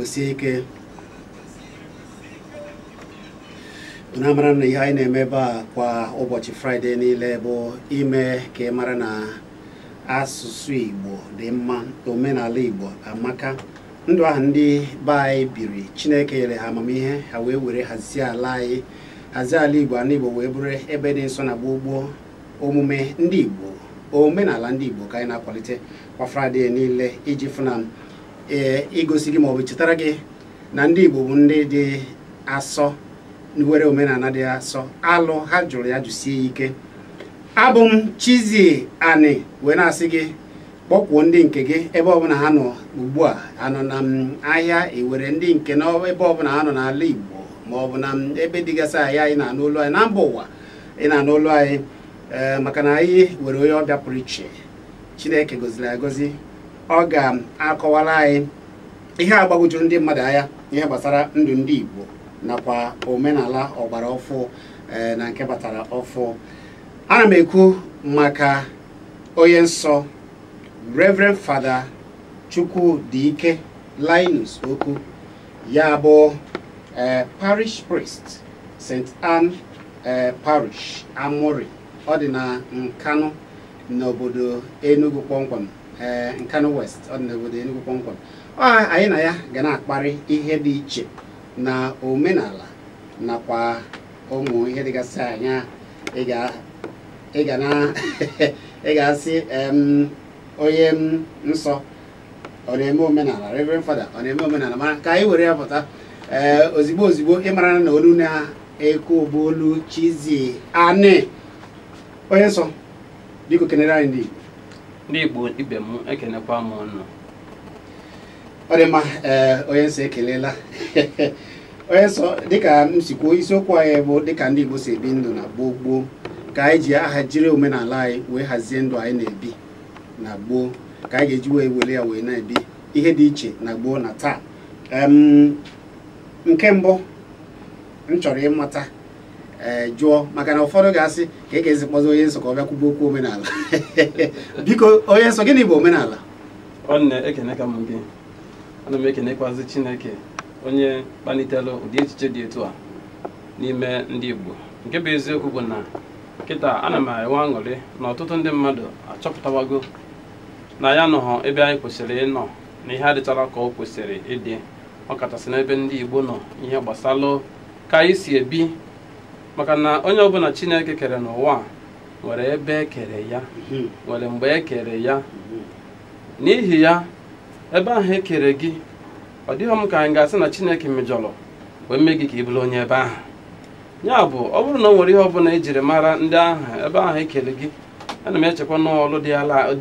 sie ike na a mara na ihe anyị na-eme ebe a kwa ụbọchị fraịde niile bụ ime ka ị mara na asụsụ igbo dị mma omenala igbo amaka ndụ ahụ ndị be anyị biri chineke nyere ha amamihe ha wee were hazie ala anyị hazie ala igbo ala igbo wee bụrụ ebe dị nsọ na gboo gboo omume ndị igbo omenala ndị igbo ka anyị na-akwalite kwa fraịde niile iji fụ na ee igosi gị maọbụ ichetara gị na ndị igbo bụ ndị dị asọ were omenala dị asọ alụ ha jụrụ ya jụsie ike abụ m Chizzy Ani wee na-asị gị kpọkwuo ndị nke gị ebe ọbụla ha nọ ugbu a ha nọ n'ime ahịa e were ndị nke nọ ebe ọbụla ha nọ n'ala Igbo ma ọ bụ na m ebe dịgasị anya ị na-anụ olu anyị na mba ụwa ị na-anụ olu anyị ee maka na anyị were onye ọbịa pụrụ iche Chineke goziri agozi ọ ga-akọwara anyị ihe agbagwoju ndị mmadụ anya ihe gbasara ndụ ndị Igbo nakwa omenala ọgbara ọfụ ee na nke batara ọfụ ana m ekwu maka onye nsọ Reverend Father Chukwudike Linus Oku ya bụ eh, parish priest St. Anne eh, parish Amurri ọ dị na Nkanụ n'obodo Enugu kpọmkwem eh, Nkanụ West ọ dị n'obodo Enugu kpọmkwem ọ anyị na ya ga na-akparị ihe dị iche na omenala nakwa ụmụ ihe dịgasị anya ị ga na ị ga-asị onye nsọ ọ na-eme omenala reverend father ọ na-eme omenala mana ka anyị were ya pụta ee eh, ozigbo ozigbo ị mara na olu na-ekwu bụ olu Chizzy Ani onye nsọ biko kenere anyị ndị Igbo ndị Igbo ibe m ekenekwa m ụnụ ọ dị mma ee onye nsọ ekelela onye nsọ dịka m si kwuo isiokwu anyị bụ dịka ndị Igbo si ebi ndụ na gboo gboo ka anyị ji aha jiri omenala anyị wee hazie ndụ anyị na-ebi na gboo ka anyị ga-eji wee were ya wee na-ebi ihe dị iche na gboo na taa nke mbụ m chọrọ ịmata ee jụọ maka na ụfọdụ ga-asị ka ị ga-esi kpọzi onye nsọ ka ọ bịa kwuba okwu omenala biko onye nsọ gịnị bụ omenala nwanne ekeneka m gị ana m ekenekwazi chineke onye kpalitere ụdị echiche dị etu a n'ime ndị igbo nke bụ eziokwu bụ na kịta ana m enwe aṅụrị na ọtụtụ ndị mmadụ achọpụtawago na anyị anọghọ ebe anyị kwesịrị ịnọ na ihe adịcharọ ka ọ kwesịrị ịdị ọ kachasị n'ebe ndị igbo nọ ihe gbasalụ ka anyị si ebi maka na onye ọbụla chineke kere n'ụwa nwere ebe e kere ya mhm. nwere mgbe e kere ya mhm. n'ihi ya ebe ahụ e kere gị ọ dịghị m ka anyị ga-asị na Chineke mejọrọ wee mee gị ka ị bụrụ onye ebe ahụ ya bụ ọ bụrụ na ọ nwere ihe ọbụla ejiri mara ndị ahụ ebe ahụ e kere gị ana m echekwa na ọlụ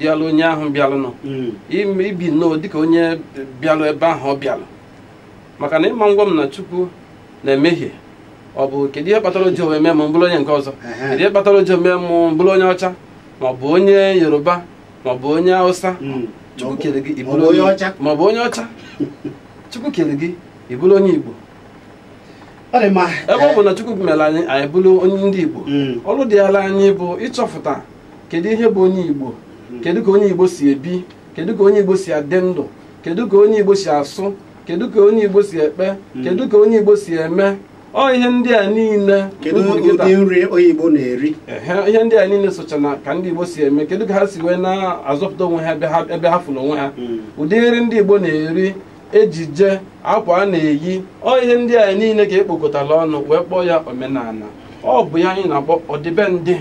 dịalụ onye ahụ bịalụnụ mhm. ibi nnọọ dịka onye bịalụ ebe ahụ ọ bịalụ maka na ị ma-agwa m na Chukwu na-emehie ọ bụ kedu ihe kpatara o jighọ mee m bụrụ onye nke ọzọ kedu ihe kpatara o jighọ mee m bụrụ onye ọcha maọbụ onye yoruba maọbụ onye hausa hmm. chukwu kere gị ị bụrụ onye ọcha maọbụ onye ọcha chukwu kere gị ị bụrụ onye igbo ebe ọ bụ na chukwu mere anyị anyị bụrụ onye ndị igbo hmm. ọrụ dịalụ anyị bụ ịchọpụta kedu ihe bụ onye igbo hmm. kedu ka onye igbo si ebi kedu ka onye igbo si adị ndụ kedu ka onye igbo si asụ kedu ka onye igbo si ekpe hmm. kedu ka onye igbo si eme ọ ihe ndị a niile kedu ụdị nri onye igbo na-eri ihe ndị a niile socha na ka ndị igbo si eme kedu ka ha si wee na-azọpụta onwe ha ebe ha fụrụ onwe ha hmm. ụdị nri ndị igbo na-eri ejije akwa a na-eyi ọ ihe ndị a niile ka e kpokọtara ọnụ wee kpọọ ya omenala ọ bụ ya anyị na-akpọ ọdịbendị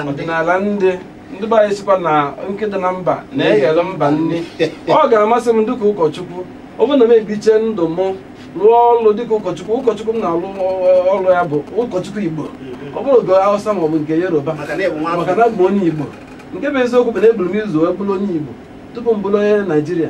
ọdịnala ndị ndị be anyị sịkwa na nkụ dị na mba na-eghere mba nri ọ ga-amasị m dịka ụkọchukwu ọ bụrụ na m ebiche ndụ m rụọ ọrụ dịka ụkọchukwu ụkọchukwu m na-arụ ọrụ ya bụ ụkọchukwu igbo ọ bụrọ nke hausa ma ọ bụ nke yoruba maka na m bụ onye igbo nke bụ eziokwu bụ na eburu m ụzọ wee bụrụ onye igbo tupu m bụrụ onye naijiria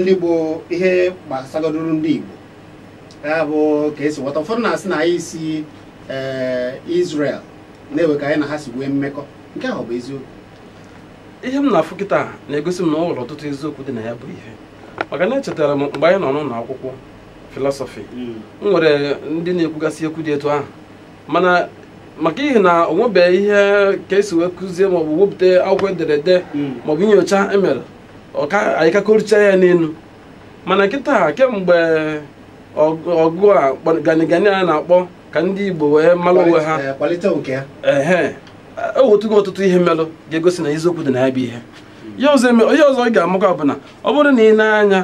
ndị bụ ihe gbasagodoro ndị Igbo ya bụ ka esi ghọta ụfọdụ na-asị na anyị si eh, Israel na e nwe ka anyị na ha si nwee mmekọ nke ahụ ọ bụ eziokwu ihe m na-afụ kịta na-egosi m na o nwere ọtụtụ eziokwu dị na ya bụ ihe maka na echetara m mgbe anyị nọ n'ụlọ akwụkwọ filọsọfị hmm. e nwere ndị na-ekwugasị okwu dị etu ahụ mana maka ihi na o nwebeghị ihe ka esi wee kụzie maọbụ wepụta akwụkwọ ederede hmm. maọbụ nyocha emere anyị ka akọrịcha ya n'elu mana kịta kemgbe ọgụ a ganigani a na-akpọ ka ndị Igbo wee mara onwe ha eh, ehe ewetago ọtụtụ ihe melụ ga-egosi na eziokwu dị na ya bụ ihe ihe ọzọ ị ga-amakwa bụ na ọ bụrụ na i nee anya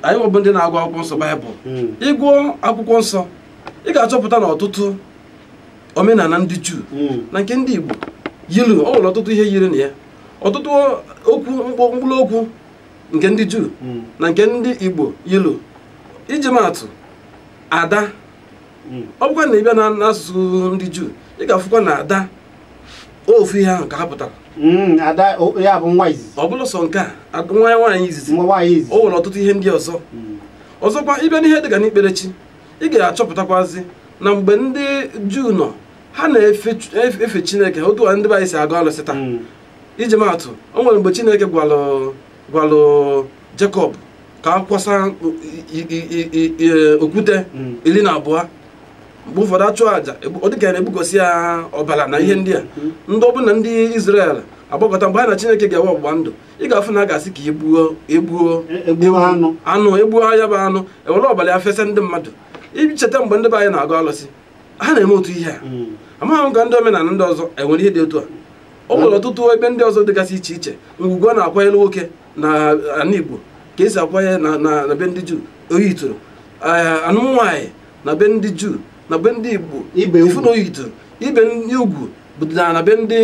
anyịnwa bụ ndị na-agụ akwụkwọ nsọ baịbụl hmm. ị gụọ akwụkwọ nsọ ị ga-achọpụta na ọtụtụ omenala ndị juu hmm. na nke ndị igbo yilu o nwere ọtụtụ ihe yiri na ya ọtụtụ okwu mkpụrụ okwu nke ndị juu hmm. na nke ndị igbo yilu iji maatụ ada hmm. ọ bụkwa na ị bịa n'asụsụ ndị juu ị ga-afụkwa na ada ofu ihe ahụ ka ha pụtara hmm, ọ bụrọ sọ nke a nwa ya nwaanyị izizi o nwere ọtụtụ ihe ndị ọzọ ọzọkwa ị bịa n'ihe dịka n'ikpere chi ị ga-achọpụtakwazi na mgbe ndị juu nọ ha na-efe chineke otu a ndị be anyị si agọ alụsị taa hmm. iji maatụ o nwere mgbe chineke gwalụ Jekọb ka a kwasa okwute hmm. iri na abụọ mgbe ụfọdụ achụ aja ọ dịka ya na-egbukọsi ya ọbara na ihe ndị a hmm. ndị ọbụla ndị Izrel agbakọta mgbe ha na chineke ga-enwe ọgbụgba ndụ ị ga-afụ na a ga-asị ka egbuo egbuo anụ egbuo ya bụ anụ e were ọbara ya fesa ndị mmadụ i cheta mgbe ndị be anyị na-agọ alụsị ha na-eme otu ihe a hmm. amaghị m ka ndị omenala ndị ọzọ enwere ihe dị otu a o nwere hmm. ọtụtụ ebe ndị ọzọ dịgasị iche iche ugwu a na-akwanyere nwoke na ala Igbo ka esi akwanye na be ndị Juu o yitere anụm nwaanyị na be ndị Juu na be ndị Igbo ị fụ na o yitere ibe ugwu bụ ọdịnala na be ndị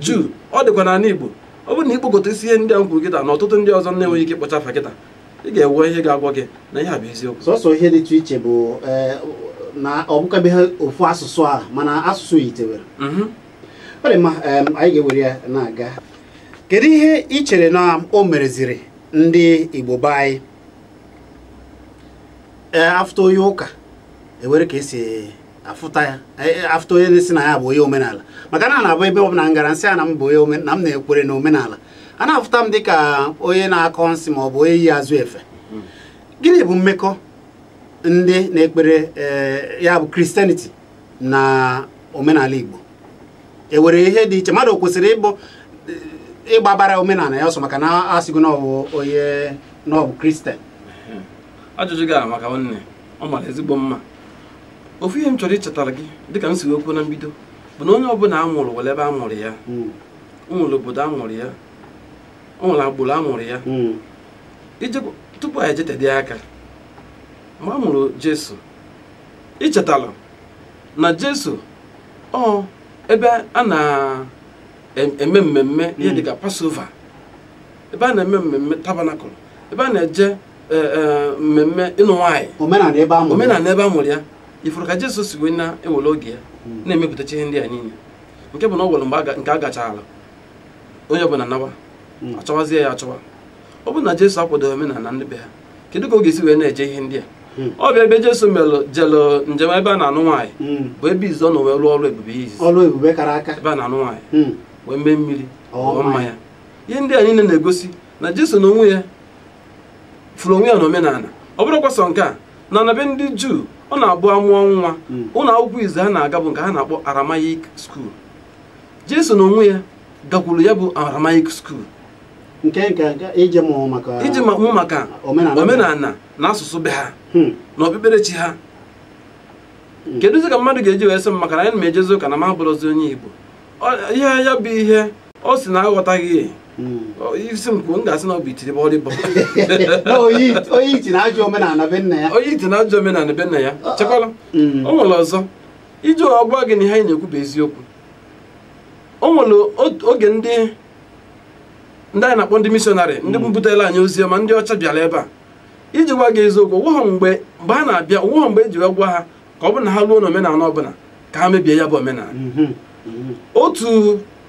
Juu ọ dịkwa n'ala Igbo ọ bụrụ na i kpokọta isi ihe ndị a kwuru kịta na ọtụtụ ndị ọzọ na-enweghị ike ịkpọcha afa kịta ị ga-enwe ihe ga-agwa gị na ihe a bụ eziokwu sọsọ ihe dịtụ iche bụ eh, na ọ bụkabeghị ofu asụsụ a mana asụsụ yitewere mhm. ọ dị mma anyị ga-ewere ya na-aga kedu ihe ị chere na o mereziri ndị Igbo be anyị eh, afụta onye ụka enwere ka e si afụta ya e, e, afụta onye na-asị na ya bụ onye omenala maka na na-abụ ebe ọ bụla m gara m sị na m bụ onye na m na-ekwere na omenala a na-afụta m dịka onye na-akọ nsị ma ọ bụ onye yi azụ efe hmm. gịnị bụ mmekọ ndị na-ekpere eh, ya bụ christianity na omenala igbo enwere ihe dị iche mmadụ o kwesịrị ịbụ eh, ịgbabara omenala ya ọsọ maka na asịgo na ọbụ onye na ọbụ kristian hmm. ajụjụ gị amaka nwanne ọ mara ezigbo mma ofu ihe m chọrọ ichetara gị dịka m si wee kwuo na mbido bụ na onye ọbụla a mụrụ nwere ebe a mụrụ ya hmm. o nwere obodo a mụrụ ya o nwere agbụrụ a mụrụ ya hmm. tupu anyị jetedị aka mgbe a mụrụ jesu i chetala na jesu ọ ebe a na-eme mmemme ihe hmm. dịka passover ebe a na-eme mmemme tabernacle ebe a na-eje e, e, mmemme ịnụ nwaanyị omenala ebe a mụrụ ya ị fụrụ ka jesu si wee na-ewere oge ya hmm. na-emepụtacha ihe ndị a niile nke bụ na o nwere mgbe nke a gachara onye ọbụla nawa hmm. achọwazie ya achọwa ọ bụrụ na Jesu akwadoghị omenala ndị be ha kedu ka ọ ga-esi wee na-eje ihe ndị a hmm. ọ bịa ebe Jesu melụ jelu njem ebe a na-anụ nwaanyị hmm. bụ ebe izizi ọ nọ wee rụọ ọrụ ebube izizi ọrụ ebube kara aka ebe a na-anụ nwaanyị wee mee mmiri ọọ mmanya ihe ndị a niile na-egosi na Jesu na onwe ya fụrụ onwe ya na omenala ọ bụrọkwa sọ nke a na na be ndị juu ọ na-abụ a mụọ nwa hmm. ụlọ akwụkwọ izizi ha na-aga bụ nke ha na-akpọ Aramaic school jesu na onwe ya gakwuru ya bụ Aramaic school iji mụ maka omenala na asụsụ be ha hmm. na okpukperechi ha hmm. kedụzi ka mmadụ ga-eji wee sị m maka na anyị na m ejezi ụka na m abụrọzi onye igbo ihe ya bụ ihe ọ sị na aghọtaghị ya Hmm. Ọ, ị sị m kwuo m ga-asị na ọ bụ itiribọlịbọ Na onye onye iti na-ajụ omenala be nna ya onye iti na-ajụ omenala be nna ya chekwala Mm. o nwere ọzọ iji wee gwa gị na ihe anyị na-ekwu bụ eziokwu o nwere ot- oge ndị ndị anyị na-akpọ ndị mishọnarị ndị butelu anyị ozi ọma ndị ọcha bịara ebe a iji gwa gị eziokwu o nwerọ mgbe mgbe ha na-abịa o nwerọ mgbe e ji wee gwa ha ka ọ bụrụ na ha ruo n'omenala ọbụla ka ha mebie ya bụ omenala mhm, mhm. otu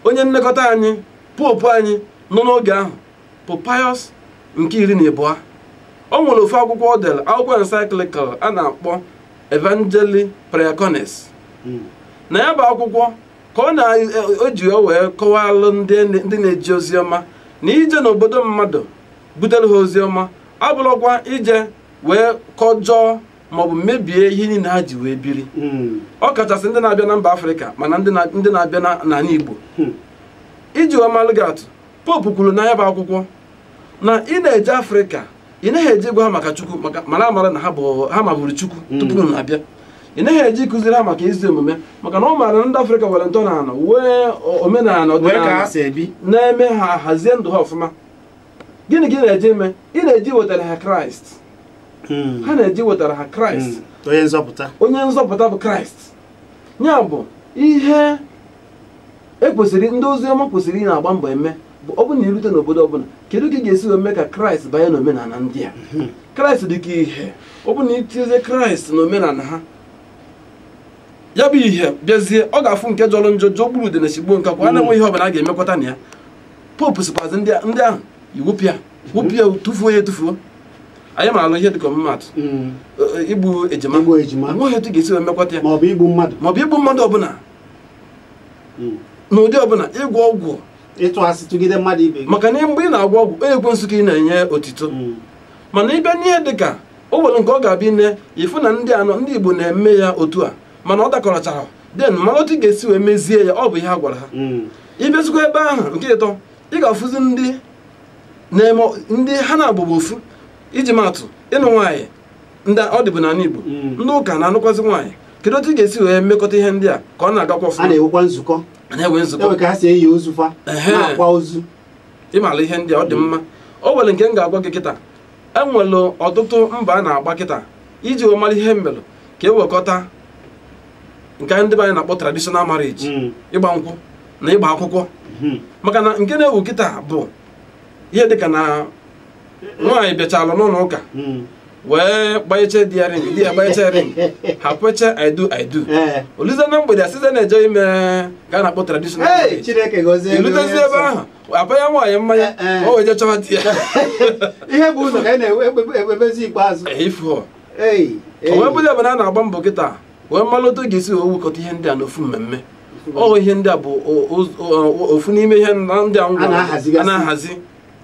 onye nlekọta anyị Pope anyị nọ n'oge ahụ Pope Pius nke iri na ịbụọ o nwere ofu akwụkwọ o dere akwụkwọ encyclical a na-akpọ Evangelii Praecones mm. na ya bụ akwụkwọ ka ọ na-eji e, wee kọwalụ ndị na-eje ozi ọma na ije n'obodo mmadụ butere ha ozi ọma abụrọkwa ije wee kọjọọ maọbụ mebie ihe niile ha ji wee biri hmm. ọ kachasị ndị na-abịa na mba afrịka ma na ndị na-abịa n'ala igbo hmm. iji wee malụ gị atụ Pope kwuru na ya bụ akwụkwọ na ị na-eje afrịka ị naghị eje ịgwa ha maka chukwu maka na a maara na ha maburu chukwu hmm. tupu ị na-abịa ị naghị eje ịkụziri ha maka ezi omume maka na ọ maara na ndị afrịka nwere ntọnala nwee omenala ọdịnala na-eme ha hazie ndụ ha ọfụma gịnị ka ị na-eje ime ị na-eje iwetara ha kraịst hmm. ha na-eje iwetara ha kraịst hmm. onye nzọpụta onye nzọpụta bụ kraịst ya bụ ihe ekwesịrị ndị ozi ọma kwesịrị ịna-agba mbọ eme bụ ọ bụrụ na i rute n'obodo ọbụla kedu ka ị ga-esi wee mee ka kraịst banye n'omenala ndị a hmm. kraịst dị ka ihe ọ bụrụ na i tinye kraịst n'omenala ha ya bụ ihe bịazie ọ ga-afụ nke jọrọ njọ jọgburu udene sigbuo nkakwụ na-enwerọ ihe ọbụla a ga-emekwata na ya Pope sịkwazị ndị ahụ i wepụ ya wụpụ ya tụfuo ya etufuo anyị malụ ihe dịka ọmụmatụ mm. e, e, igbu ejima nweghị etu ga-esi emekwata ya maọbụ igbu mmadụ maọbụ igbu mmadụ ọbụla mm. n'ụdị ọbụla ịgwọ ọgwụ ịtụ asị tụgide mmadụ ibe maka na mgbe ị na-agwọ ọgwụ ọ ekwensu ka ị na-enye otito mm. mana ịbịa n'ihe dịka o nwere nke ọ ga-abụ i nee ị fụ na ndị ndị Igbo na-eme ya otu a mana ọ dakọrọchara then malụ otu ga-esi wee mezie ya ọ bụ ihe a gwara ha ị bịazikwa ebe ahụ nke ịtọ ị ga-afụzi ndị na-eme ndị ha naabọ bụ ofu iji matụ ịnụ nwaanyị ọ dịbu n'ala Igbo mm. ndị ụka na-anụkwazị nwaanyị kedu otu ị ga-esi wee mekọta ihe ndị a ka ọ na-agakwa ọfụma a na-enwekwa nzukọ a na-enwe nzukọ ka ha si eni ozu fa na-akwa ozu ịmala ihe ndị a ọ dị mma o nwere nke m ga-agwa gị kịta enwere ọtụtụ mbọ a na-agba kịta iji wee mara ihe mmelụ ka e wekọta nke ndị be anyị na-akpọ traditional marriage mm. ịgba nkwụ na ịgba akwụkwọ mm-hmm. maka na nke na-ewu kịta bụ ihe dịka na nwaanyị bịachalụ n'ụlọ ụka mm. wee gbanyeche di ya ring di ya gbanyeche ring ha kweche i do i do eh. o luzie na mgbede a sịzie na-eje ime nke a na-akpọ traditional marriage i lutezie ebe ahụ a panye nwaanyị mmanya eh, eh. o wee je chọwa di ya ihe bu ụzọ ka a na-ewebezi ikpeazụ o wee bụrụ ebe na a na-agba mbọ kịta wee malụ otu ga-esi wee wekọta ihe ndị a n'ofu mmemme oho ihe ndị a bụ ofu n'ime ihe ndị a na-ahazi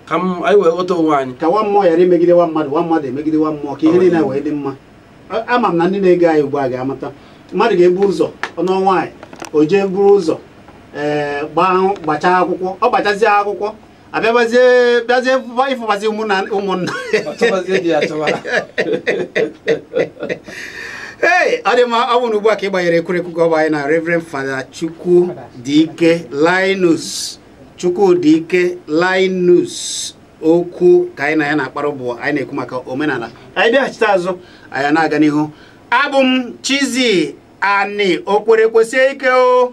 ka anyị wee ghọta onwe anyị ka nwa mmụọ ghara imegide nwa mmadụ nwa mmadụ emegide nwa mmụọ ka ihe niile wee dị mma ama m na ndị na-ege anyị ugbu a ga-amata mmadụ ga-ebu ụzọ ọ nụọ nwaanyị o jee buru ụzọ ee eh, gbachaa akwụkwọ ọ gbachazie akwụkwọ abịabazie bịazie ịfụbazi ụmụnna ụmụnna ee ọ dị mma ọ bụrụ na ugbu a ka ị gbanyere ekwurekwu gị ọ bụ anyị na Reverend Father Chukwudike Linus Okwu ka anyị na ya na-akpara ụbụbọ anyị na-ekwu maka omenala anyị bịaghachite azụ anyị na-aga n'ihu abụ m Chizzy Ani Okwere kwesie ike o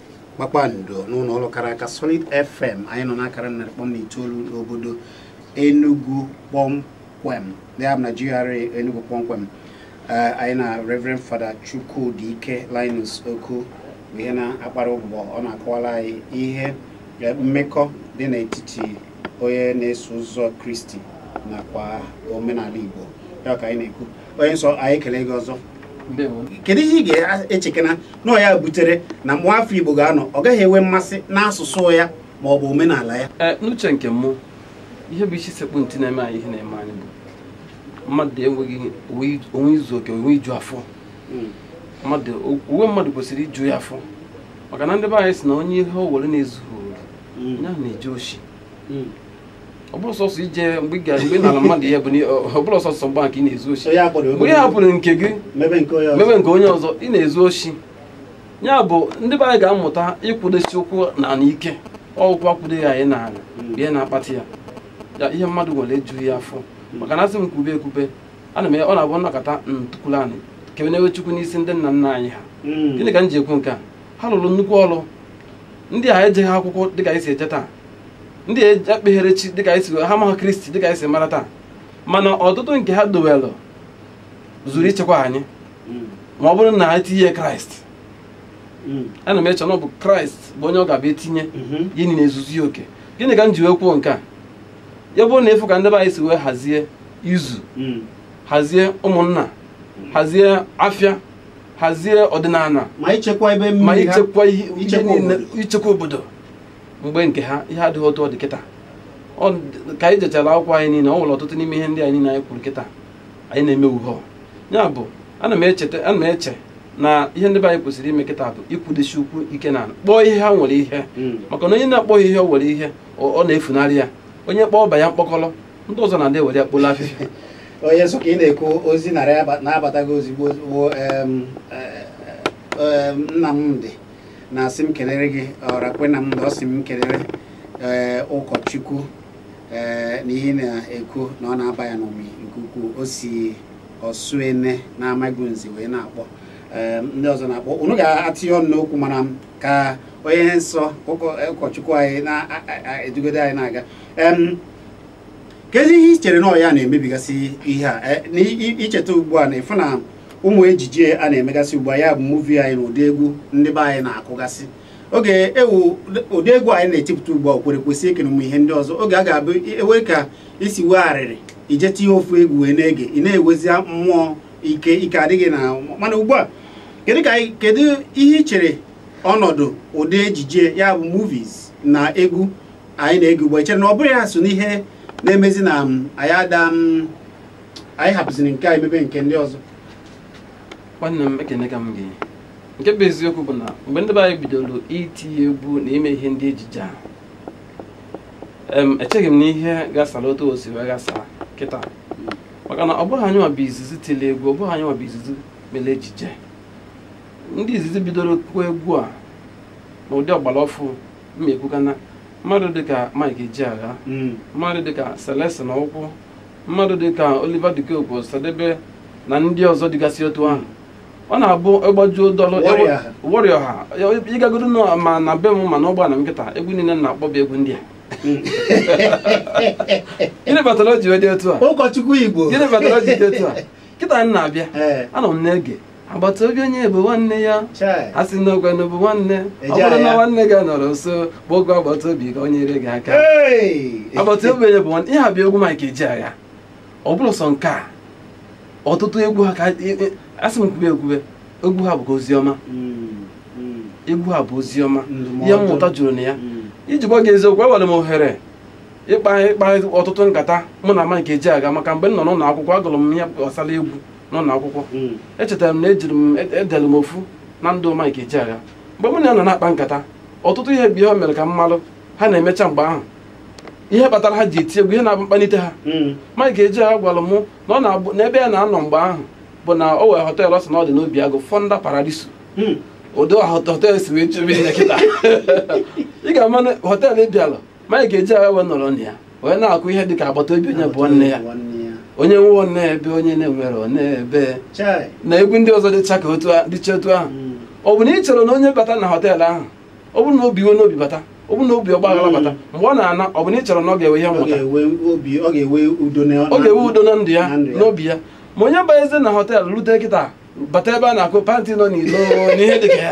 kpakpando n'ụlọ ọrụ kara aka Solid FM anyị nọ n'akara narị kpọm na itoolu n'obodo Enugu kpọmkwem ya bụ na GRA Enugu kpọmkwem Eh, anyị na Reverend Father Chukwudike Linus Okwu bụ ihe na-akpara ụbụbọ ọ na-akọwara anyị ihe eh, mmekọ dị n'etiti onye na-eso ụzọ Kristi nakwa omenala Igbo ya ka anyị na-ekwu onye nsọ anyị ekelee gị ọzọ kedu ihe ị ga-echekena na ọ ya butere na nwa afọ Igbo ga-anọ ọ gaghị enwe mmasị n'asụsụ ya ma ọ bụ omenala ya eh, n'uche nke mụ ihe bụ isi sekpu ntị na-eme anyị ihe na-eme anyị bụ mmadụ enweghị onwe izu oke onwe iju afọ hmm. mmadụ onwe mmadụ kwesịrị iju ya afọ maka na ndị be anyị si na onye ihe o nwere na-ezughị hmm. onye ahụ na-eje oshi hmm. ọ bụrọ sọsọ ije mgbe ị ga- mgbe ị nara mmadụ ihe bụ na ị- ọ bụrọ sọsọ mgbe a ka ị na-ezu oshi Onye akpọrọ mgbe ị hapụrụ nke gị mebe nke onye ọzọ. mebe nke onye ọzọ ị na-ezu oshi ya bụ ndị be anyị ga-amụta ịkwụdosi ụkwụ na ala ike ọ ụkwụ akwụdoghị anyị na ala bụ ihe na-akpata ya ya ihe mmadụ nwere ejughị ya afọ maka na a sị m kwube ekwube ana m ọ na-abụ nnọkọta ntukwuru anị kebe n'ebe chukwu n'isi ndị nna nna anyị ha Mm. gịnị ka m ji ekwu nke a ha lụrụ nnukwu ọrụ ndị a ejeghị akwụkwọ dịka anyị si eje taa ndị ekpeghere chi dịka anyị si ha amaha Kristi dịka anyị si mara taa mana ọtụtụ nke ha dowelụ zuru ichekwa anyị ma ọ bụrụ na ha etinye kraịst ana m eche na ọ bụ kraịst bụ onye ọ ga-abụ etinye ihe niile ezuzu ya oke gịnị ka m ji wee kwuo nke a ya bụ na ị fụ ka ndị be anyị si wee hazie izu hazie ụmụnna hazie afịa hazie ọdịnala ma ichekwa ebe ma mmiri ha ichekwa ihe ichekwa ihe niile- obodo. ichekwa obodo mgbe nke ha ihe adịghị otu ọ dị kịta ka anyị jechara akwụkwọ anyị niile ọ nwere ọtụtụ n'ime ihe ndị a niile anyị kwuru kịta anyị na-eme uhe ya bụ ana m echeta ana m eche na ihe ndị be anyị kwesịrị ime kịta bụ ịkwụdosi ụkwụ ike na kpọọ ihe ha nwere ihe hmm. maka na onye na-akpọghị ihe o nwere ihe ọ na-efunarị ya onye kpọọ ọba ya mkpọkọrọ ndị ọzọ na-adị ewere ya kpolo afịfịa onye nsọ ka ị na-ekwu ozi na-abataghị ozigbo eh, eh, eh, Nnamdị na-asị m kelere gị Ọrakwe Nnamdị ọ sị m kelere ee ụkọchukwu ee na ihe na-ekwu na ọ na-aba ya n'ụmị nke ukwuu o si Ọsụene na Amagunze wee na-akpọ ee ndị ọzọ na-akpọ unu ga-atinye ọnụ n'okwu mana m ka onye nsọ ụkọ- ụkọchukwu anyị na-edugodo anyị na-aga em kedu ihe i chere na ọ ya na-emebigasị ihe a Eh, na i- i- icheta ugbu a na ị fụ na ụmụ ejije a na-emegasị ugbu a ya bụ muvi anyị na ụdị egwu ndị be anyị na-akụgasị oge ewu ụdị egwu anyị na-etipụta ugbu a o kwere kwesị eke na ụmụ ihe ndị ọzọ oge a ga-abụ e nwee ka i si wee arịrị ị je tinye ofu egwu wee na-ege ị na-enwezi mmụọ ike ike adịghị na mana ugbu a kedu ka anyị- kedu ihe i chere ọnọdụ ụdị ejije ya bụ movies na egwu anyị na-ege ugbu a i chere na ọ bụrọ ya so n'ihe na-emezi na um, anyị ada um, anyị hapụziri nke anyị mebe nke ndị ọzọ nwanne m ekeneka m gị nke bụ eziokwu bụ na mgbe ndị be anyị bidoro iti egwu na ime ihe ndị ejije a em echeghị m na ihe gasara otu o si wee gasa kịta maka na ọ bụghị anyị nwa bụ izizi tiri egwu ọ bụghị anyị nwa bụ izizi mere ejije ndị izizi bidoro kụọ egwu a n'ụdị ọgbara ọfụụ m ekwuka na mmadụ dịka Mike Ejeagha mmadụ dịka Celestine Ukwu mmadụ dịka Oliver De Coque Osadebe na ndị ọzọ dịgasị otu ahụ ọ na-abụ ịgbajuo dọlụ Warrior ha ị gagodo na- ma na be m ma na ụgbọala m kịta egwu niile m na-akpọ bụ egwu ndị a gịnị batara o ji wee dị otu a ụkọchukwu igbo gịnị batara o ji dị otu a kịta m na-abịa Ee. anọ m na-ege agbata obi onye bụ nwanne ya a sị na ogwe bụ nwanne ọ bụrụ na nwanne gị anọrọ nso kpọọ agbata obi ka o nyere gị aka agbata obi onye bụ nwanne ihe a bụ egwu Mike Ejeagha ọ bụrọ sọ nke a ọtụtụ egwu ha ka a sị m kwube egwu ha bụkwa ozi ọma hmm, hmm. egwu ha bụ ozi ọma ihe mmụta juru na ya hmm. iji gwa gị eziokwu ewere m ohere ịkpa ịkpa ọtụtụ nkata mụ na Mike Ejeagha maka mgbe m nọ n'ụlọ akwụkwọ agụrụ m ihe gbasara egwu n'ụlọ akwụkwọ hmm. echetara m na edere m ofu na ndụ Mike Ejeagha mgbe mụ na ya nọ na-akpa nkata ọtụtụ ihe bụ ihe o mere ka m malụ ha na-emecha mgbe ahụ ihe kpatara ha ji eti egwu ihe na-abụ mkpalite ha hmm. Mike Ejeagha gwara mụ na ọ na-abụ n'ebe ya na-anọ mgbe ahụ bụ na o were họteelụ ọ sị na ọ dị n'Obiagụ Fonda Paradiso hmm. ụdị họteelụ si wee chebe ya kịta ị ga-ama họteelụ ị bịala Mike Ejeagha wee nọrọ na ya wee na-akụ ihe dịka agbata obi onye bụ nwanne ya onye nwe ọ na-ebe onye na-enwerọ ọ na-ebe na egwu ndị ọzọ dịcha ka dịcha otu ahụ hmm. ọ bụ na ị cherọ na onye bata na họteelụ ahụ ọ bụrụ na o bu iwe n'obi bata ọ bụrụ na o bu ọgbaghara bata hmm. mgbe ọ na-ana ọ bụ na ị cherọ na ọ ga-ewe ihe mmụta ọ ga-ewe udo na ndụ ya n'obi ya ma onye banyezi na họteelụ rute kịta bata ebe a na-akụ pantị nọ n'ilo na ihe dị ka ya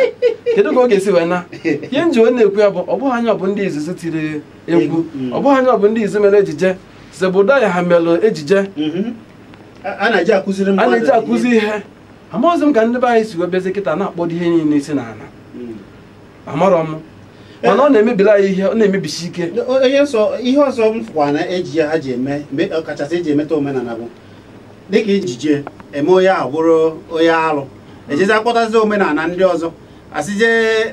kedu ka ọ ga-esi wee na ihe m ji wee na-ekwu ya bụ ọ bụghị anyị bụ ndị izizi tiri egwu Mm. ọ bụghị anyị bụ ndị izizi mere ejije Zebrudaya ha mere ejije Mhm. a na-eji akụzi ihe amaghịzi m ka ndị be anyị si wee bịazi kịta na-akpọdo ihe niile isi n'ala Mm. amarọ m mana ọ na-emebiri anyị ihe ọ na-emebisi ike onye nsọ ihe ọzọ m fụkwa na ejije ha ji eme mgbe ọkachasị eji emetọ omenala bụ dịka ejije eme onye ahụ bụrụ onye alụ ejezi akpọtazi omenala ndị ọzọ a sịzi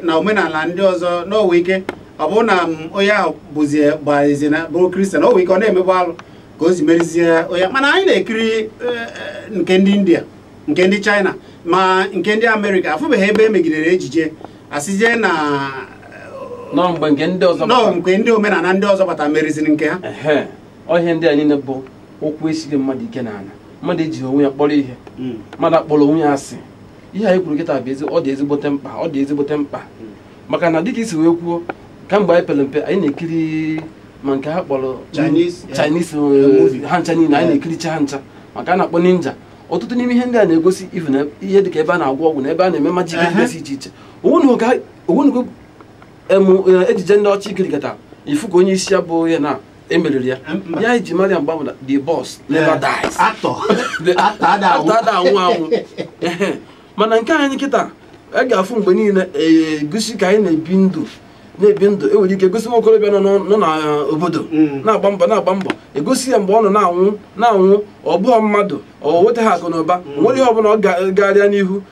na omenala ndị ọzọ nwe ike ọ bụrụ na onye ahụ bụzi gbarazi na bụrụ kristian o we ike ọ na-emegbu alụ ka o si merizie onye mana anyị na-ekiri eh, eh, nke ndị india nke ndị china ma nke ndị amerịka afụbeghị ebe e megidere ejije a sịzi na nọọ mgbe nke ndị ọzọ nọọ mgbe ndị omenala ndị ọzọ bata meriziri nke ha ọ ihe ndị a niile bụ ụkwụ esighị mmadụ ike n'ala mmadụ ejighị onwe ya kpọrọ ihe hmm. mmadụ akpọrọ onwe ya asị ihe anyị kwuru kịta bụ ọ dị ezigbote mkpa ọ dị ezigbote mkpa hmm. maka na dịka i si wee kwuo kamgbe anyị pere mpe anyị na-ekiri ma nke ha kpọrọ Chinese eh, ha ncha niile anyị na-ekiricha ha ncha ma nke a na-akpọ ninja ọtụtụ n'ime ihe ndị a na-egosi ị fụ na ihe dịka ebe a na-agwọ ọgwụ na ebe a na-eme majik dịgasị iche iche o nwenugo eh, ejije ndị ọcha i kirikata ị fụ ka onye isi ya bụ ihe na emeriri ya ya iji mara ya mgbe ahụ bụ na the boss never dies actor actor ada anwụ ada anwụ anwụ mana nke anyị kịta a ga-afụ mgbe niile egosi ka anyị na-ebi ndụ na-ebi ndụ enwere ike gosi nwa okorobịa nọ n'obodo e, mm. na-agba mbọ na-agba mbọ egosi ya mgbe ọ nọ na-anwụ na-anwụ ọ bụghị mmadụ ọ wetaghị akụ na ụba mm. nwere ihe ọbụla gaara ya n'ihu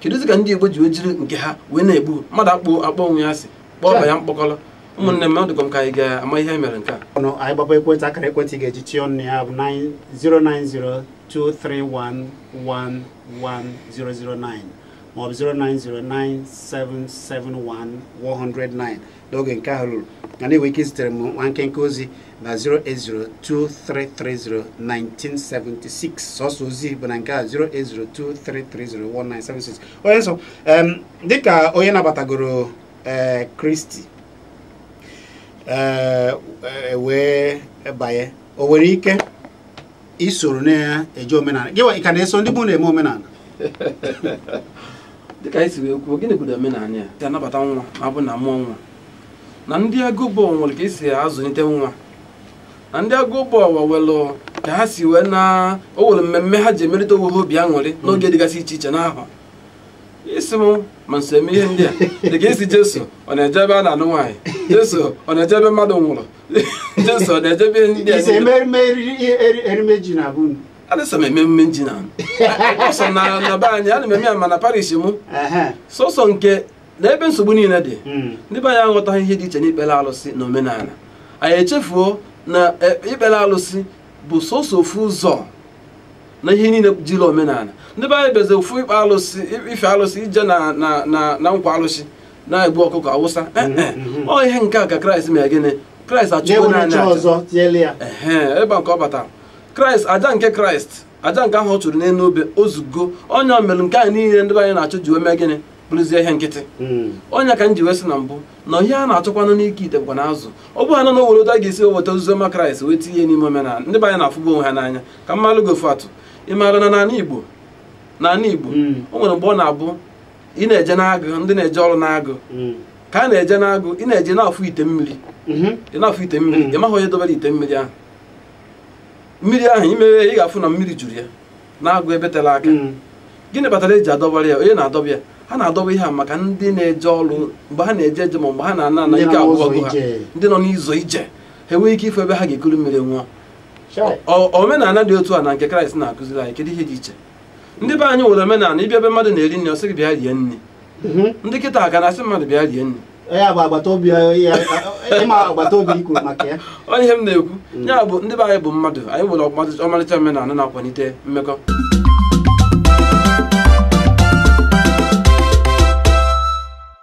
kedụzi ka ndị Igbo ji wee jiri nke ha wee na-egbu mmadụ akpọ akpọ onwe ya asị kpọọ ọba ya mkpọkọrọ ụmụnne m ọ dịkwa m ka anyị ga-ama ihe mere nke a anyị gbaba ekwentị akara ekwentị ị ga-eji tinye ọnụ ya bụ 09023111009 maọbụ 09097711009 n'oge nke ahụ ruru na i nwere ike izitere m nwa nkenke ozi na 08023301976 sọsọ ozi bụ na nke a 08023301976 onye nsọ em, dịka onye nabatagoro ee Kristi ee e wee banye o nwere ike isoro na-eje omenala gị ị ka na-eso ndị be unu eme omenala dịka anyị si wee kwuo gịnị bụ omenala ya si anabata nwa ma ọ bụ na amụọ nwa na ndị Agụobu nwere ka esi azụlite nwa na ndị Agụobu nwelụ ka ha si wee na o nwere mmemme ha ji emerịta onwe ha obi aṅụrị n'oge dịgasị iche iche n'ahọ ị sị m ma m so eme ihe ndị a dịka ị sị Jesu ọ na-eje ebe a na-anụ nwaanyị Jesu ọ na-eje ebe mmadụ nwụrụ Jesu ọ na-eje ebe ndị Ise emerime eriri- eri- erimeji na be unu. adịsọ m eme emume ji na sọ na na be anyị ana m eme ya ma na parish mụ Ehe. sọsọ nke na ebe nsogbu niile dị Mm. ndị be anyị aghọtaghị ihe dị iche n'ikpere alụsị na omenala anyị echefuo na e, ikpere alụsị bụ sọsọ ofu ụzọ na ihe niile jiri omenala ndị be anyị bụzi ofu ikpe alụsị ife alụsị ije na na na na nkwu alụsị na-egbu ọkụkọ awụsa eh, eh. ọ ihe nke a ka kraịst mere gịnị kraịst achụgo naanị aja ebe nke ọ batara kraịst aja nke kraịst aja nke ahụ ọ chụrụ n'elu obe ozugbo onye o mere nke a niile ndị be anyị na-achụ ji wee mee gịnị bụrụzie ihe nkịtị hmm. ọ ya ka m ji wee sị na mbụ na ihe a na-achọkwanụ n'ike ite bụkwanụ azụ ọ bụrụ na o nwere otu a ga-esi weta ozi ọma kraịst wee tinye n'ime omenala ndị be anyị na-afụba onwe ha n'anya ka m malụgodu atụ ị maara na n'ala igbo n'ala igbo hmm. o nwere mgbe ọ na-abụ ị na-eje n'agụ ndị na-eje ọrụ n'agụ mm. ka a na-eje n'agụ ị na-eje na-afụ ite mmiri mm-hmm. ị na-afụ ite mmiri mm. ị maghị onye dobere ite mmiri ahụ mmiri ahụ i meghee ị ga-afụ na mmiri juru ya n'agụ ebe tere aka mm. gịnị kpatara e ji adọbara ya onye na-adọba ya ha na-adọba ihe a maka ndị na-eje ọrụ mgbe ha na-eje eje ma mgbe ha na-ana ana ike agwụgo ha ndị nọ n'ụzọ ije ha enwee ike ịfụ ebe ha ga-ekuru mmiri ṅụọ omenala dị otu a na nke Kraịst na-akụziri anyị kedu ihe dị iche ndị be anyị nwere omenala ị bịa ebe mmadụ na-eri nri ọ sị gị bịa rie nri Mhm. ndị kịtaa ka na-asị mmadụ bịa rie nri ya bụ agbata obi ya ị ma agbata obi ikwu maka ya ọ ihe m na-ekwu ya bụ ndị be anyị bụ mmadụ anyị nwere ọgbatị- ọmarịcha omenala na-akwalite mmekọ